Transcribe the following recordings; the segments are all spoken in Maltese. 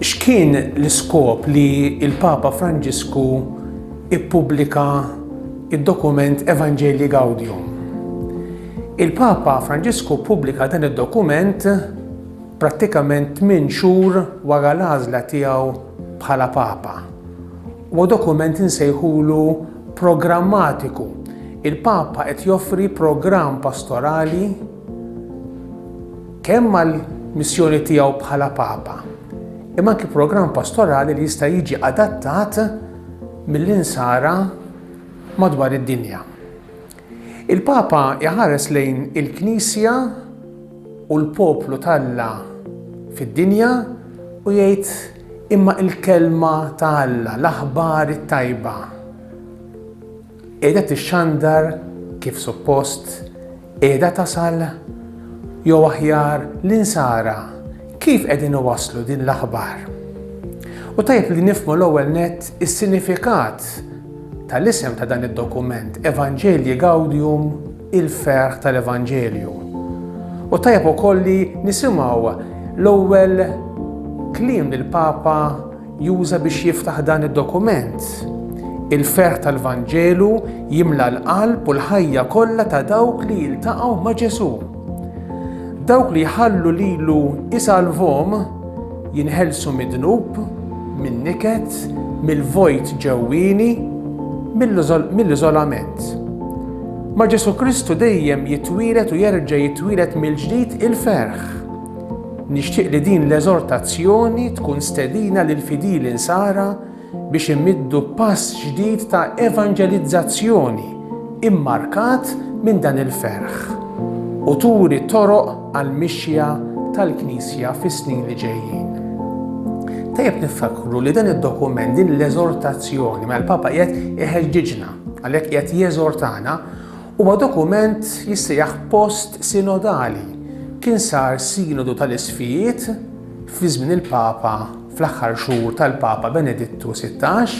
X'kien l-iskop li l-Papa Franġisku ppubblika d-dokument Evangelii Gaudium? Il-Papa Franġisku ppubblika dan id-dokument prattikament tmien xhur wara l-għażla tiegħu bħala Papa. Huwa dokument insejħulu programmatiku. Il-Papa qed joffri programm pastorali, kemm mal-missjoni tiegħu bħala Papa, imma anki programm pastorali li jista' jiġi adattat mill-insara madwar id-dinja. Il-Papa iħares lejn il-Knisja u l-poplu t'Alla fid-dinja u jgħid imma il-kelma ta' Alla, l-aħbar it-tajba, Qiegħda tixxandar kif suppost? Qiegħda tasal? Jew aħjar, l-Insara kif qegħdin iwasslu din l-aħbar? U tajjeb li nifhmu l-ewwel nett is-sinifikat tal-isem ta' dan id-dokument, Evangelii Gaudium il-ferħ tal-Evanġelju. U tajjeb ukoll li nisimgħu l-ewwel kliem li l-Papa juża biex jiftaħ dan id-dokument. Il-ferħ tal-Vanġelu jimla l-qalb u l-ħajja kollha ta' dawk li jiltaqgħu ma' Ġesù. Dawk li jħallu lilu isalvom Jinħelsu mid-dnub, min-niket, mill-vojt ġewwieni, mill-iżolament. Ma' Ġesù Kristu dejjem jitwieled u jerġa' jitwieled mill-ġdid il-ferħ. Nixtieq li din l-eżortazzjoni tkun stedina lill-fidili Nsara biex imiddu pass ġdid ta' evanġelizzazzjoni mmarkat minn dan il-ferħ u turi toroq għall-mixja tal-Knisja fis-snin li ġejjin. Tajjeb niftakru li dan id-dokument din l-eżortazzjoni mal-Papa qiegħed iħeġġiġna, għalhekk qiegħed jeżortana Huwa dokument jissejjaħ post sinodali. Kien sar sinodu tal-isfijiet fi żmien il-Papa fl-aħħar xhur tal-Papa Benedittu Sittax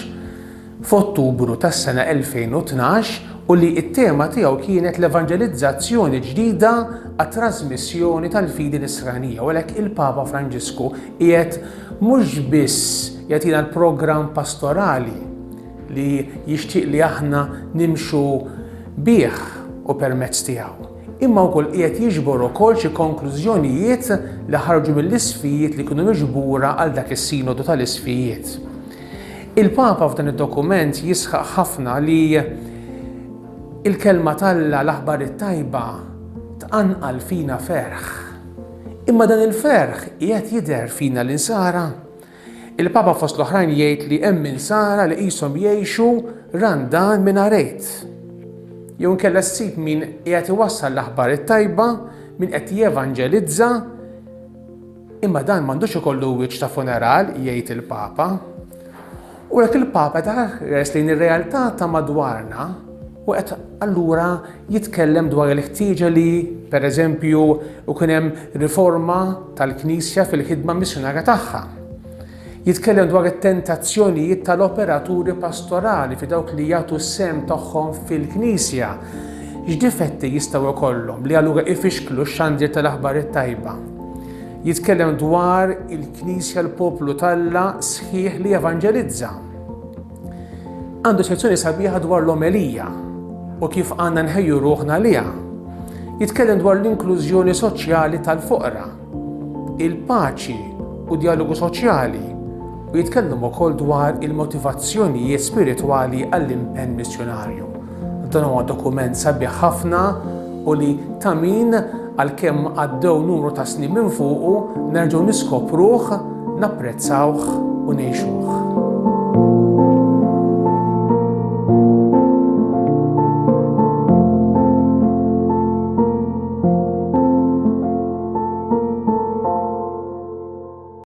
f'Ottubru tas-sena 2012 u li t-tema tiegħu kienet l-evanġelizzazzjoni ġdida għat-trażmissjoni tal-fidi nisranija u għalhekk il-Papa Franġisku qiegħed mhux biss jagħtina l-programm pastorali li jixtieq li aħna nimxu bih u permezz tiegħu, imma wkoll qiegħed jiġbor ukoll xi konklużjonijiet li ħarġu mill-isfijiet li kienu miġbura għal dak is-Sinodu tal-Isfijiet. Il-Papa f'dan id-dokument jisħaq ħafna li il-kelma t'Alla l-aħbar it-tajba tqanqal fina ferħ. Imma dan il-ferħ qiegħed jidher fina l-insara? Il-Papa fost l-oħrajn jgħid li hemm Insara li qishom jgħixu randan mingħajr Għid. Jew inkella ssib min qiegħed iwassal l-aħbar it-tajba, min qed jevanġelizza, imma dan m'għandux ikollu wiċċ ta' funeral, jgħid il-Papa. U hekk il-Papa ta' ħares lejn ir-realtà ta' madwarna u qed allura jitkellem dwar il-ħtieġa li, pereżempju, ikun hemm riforma tal-Knisja fil-ħidma missjunarja tagħha. Jitkellem dwar it-tentazzjonijiet tal-operaturi pastorali fi dawk li jagħtu s-sem tagħhom fil-Knisja. X'difetti jistgħu jkollhom li allura ifixklu x-xandir tal-aħbar it-tajba? Jitkellem dwar il-Knisja l-poplu talla sħiħ li evanġelizza. Għandu sezzjoni sabiħa dwar l-omelija u kif għandna nħejju ruħna liha. Jitkellem dwar l-inklużjoni soċjali tal-foqra, il-paċi u djalogu soċjali u jitkellem ukoll dwar il-motivazzjonijiet spiritwali għall-impenn missjunarju. Dan huwa dokument sabiħ ħafna u li ta' min għalkemm għaddew numru ta' snin minn fuqu, nerġgħu niskopruh, napprezzawh u ngħixuh.